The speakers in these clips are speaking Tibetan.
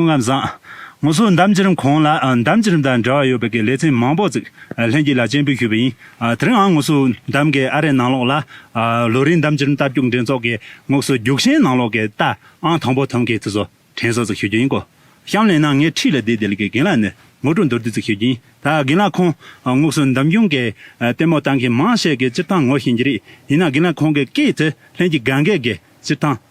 ལྔ་བཟང། ངོ་སོ་འདམ་བྱེ་རིམ་གང་ལ་འདམ་བྱེ་རིམ་དང་འབྲེལ་བ་ཡོད་པའི་ལེ་ཚན་མང་པོ་བརྩིགས་ལྷན་གྱིས་ལ་སྤྱན་འབུལ་ཞུས་པ་ཡིན། དེ་རིང་འང་ངོ་སོ་འདམ་གའི་ཨ་རའི་ནང་ལོགས་ལ། ལོ་རིའི་འདམ་བྱེ་རིམ་རྟ་བརྒྱུགས་འགྲན་ཚོགས་ཀྱི་ངོགས་སུ་རྒྱུགས་ཤན་ནང་ལོགས་ཀྱི་རྟ་ཨང་དང་པོ་ཐོན་མཁན་དུས་སུ་དྲན་གསོ་བརྩིགས་ཞུ་རྒྱུ་ཡིན། གོ་ཤམ་ལེན་ནང་ངས་ཁྲིད་ལ་དེའི་དེ་ལ་གི་རྒན་ལགས་ནས་ངོ་སྤྲོད་མདོར་བསྡུས་བརྩིགས་ཞུ་རྒྱུ་ཡིན། ད་རྒན་ལགས་ཁོང་ངོགས་སུ་འདམ་རྒྱུང་གི་ལྟད་མོ་བལྟ་མཁན་མང་ཤས་ཀྱི་སྤྱིར་བཏང་ངོ་ཤེས་ཀྱི་རེད་ཡིན་ན་རྒན་ལགས་ཁོང་གི་སྐད་དུ་ལྷན་གྱིས་ག་འགས་ཀྱི་སྤྱིར་བཏང།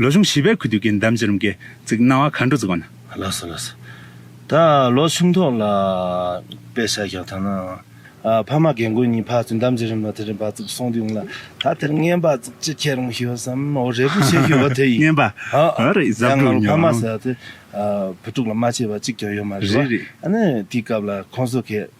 ལོ་ཆུང་བྱིས་པའི་གུས་འདུད་ཀྱི་འདམ་བྱེ་རུམ་གྱིས་བརྩིགས་སྣང་བ་མཁའ་འགྲོ་རྩིག་པ་ན། ལགས་སོ་ལགས་སོ། ད་ལོ་ཆུང་ཐོག་ལ་དཔེ་ཆ་རྒྱག་ཐང་ན། ཕ་མ་རྒན་རྒོན་གཉིས་ཕར་ཚུར་འདམ་བྱེ་རུམ་ལ་དེ་རིང་བར་བརྩིགས་སོང་དུས་ང་ལ་ད་དེར་བརྔན་པར་བརྩིགས་ཅི་ཁྱེད་རང་ཤེས་སམ་འོ་རེ་སྒུག་བྱེད་ཤེས་འོ་དེ་ཡིན། བརྔན་པ། འོ་རེད་གཟབ་ཡང་ང་དགོས་ལ་ཕ་མ་མྱོང། ཟེར་བ་དེ་བུ་ཕྲུག་ལ་མ་བྱས་པ་གཅིག་ཀྱང་ཡོད་མ་རེད་བ། རེད་རེད། ཨ་ནི་དེའི་སྐབས་ལ་ཁོང་ཚོ་གས།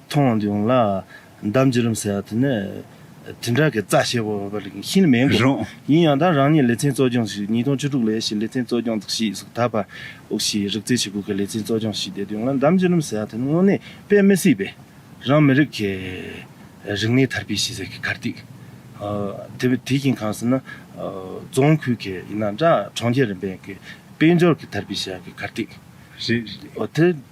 མཐོང་བྱུང་ལ། འདམ་བརྒྱུད་རིམ་ཟེར་བ་དེ་ནི། དྲིལ་བསྒྲགས་ཀྱི་རྩ་ཆེ་བོ་བ་རིགས་ཤིན་ཏུ་མེད་དགོས། རང། ཡིན་ཡང་ད་རང་ཉིད་ལེ་ཚན་གཙོ་སྐྱོང་ཞིག་ཉིས་སྟོང་བཅུ་དྲུག་ལོའི་ཞིག་ལེ་ཚན་གཙོ་སྐྱོང་དག་ཞིག་གཟུགས་ཐག་པ་འུག་ཞིག་རིག་རྩལ་ཆུ་བུར་གྱི་ལེ་ཚན་གཙོ་སྐྱོང་ཞིག་བསྡད་བྱུང་ལ་འདམ་བརྒྱུད་རིམ་ཟེར་བ་དེ་ནི་དངོས་གནས་དཔེ་མི་སྲིད་པས། རང་མི་རིགས་ཀྱི། རིག་གནས་དར་སྤེལ་ཞེས་ཟེར་གི་གར་སྟེགས། དེ་བས་དེ་བཞིན་གང་ཟེར་ན། རྫོང་ཁུལ་གྱི་ཡིན་ན་འདྲ་གྲོང་ཁྱེར་རིམ་པའི་དཔལ་འབྱོར་གྱི་དར་སྤེལ་བྱ་གི་གར་སྟེགས། རེད། དེ།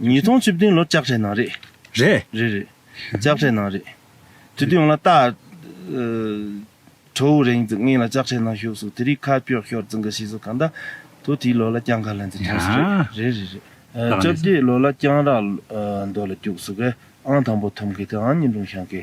ཉིས་སྟོང་བཅུ་བདུན་ལོར་ལྕགས་ཁྲའི་ནང་རེད། རེད། རེད་རེད། ལྕགས་ཁྲའི་ནང་རེད། དུས་དུས་ཡོང་ལ་ཏཱ། ཁྲོ་བོ་རེང་རྫི་ངེད་ལ་ལྕགས་ཁྲའི་ནང་ཞུགས་སོང་དེ་རིགས་ཁ་ཀྱོག་ཤོར་རྫི་འགའ་ཤི་སོང་གང་ལྟ། དུ་དེའི་ལོ་ལ་རྐྱང་ག་ལ་འཛིན་ཐུབ་སོང་རེད། རེད་རེད་རེད། བཅོ་བརྒྱད་ལོ་ལ་རྐྱང་རག་མདོ་ལ་རྒྱུགས་སོང་གས་ཨང་དང་པོ་ཐོབ་མཁན་དེ་ཨང་གཉིས་ལུང་ཤང་གི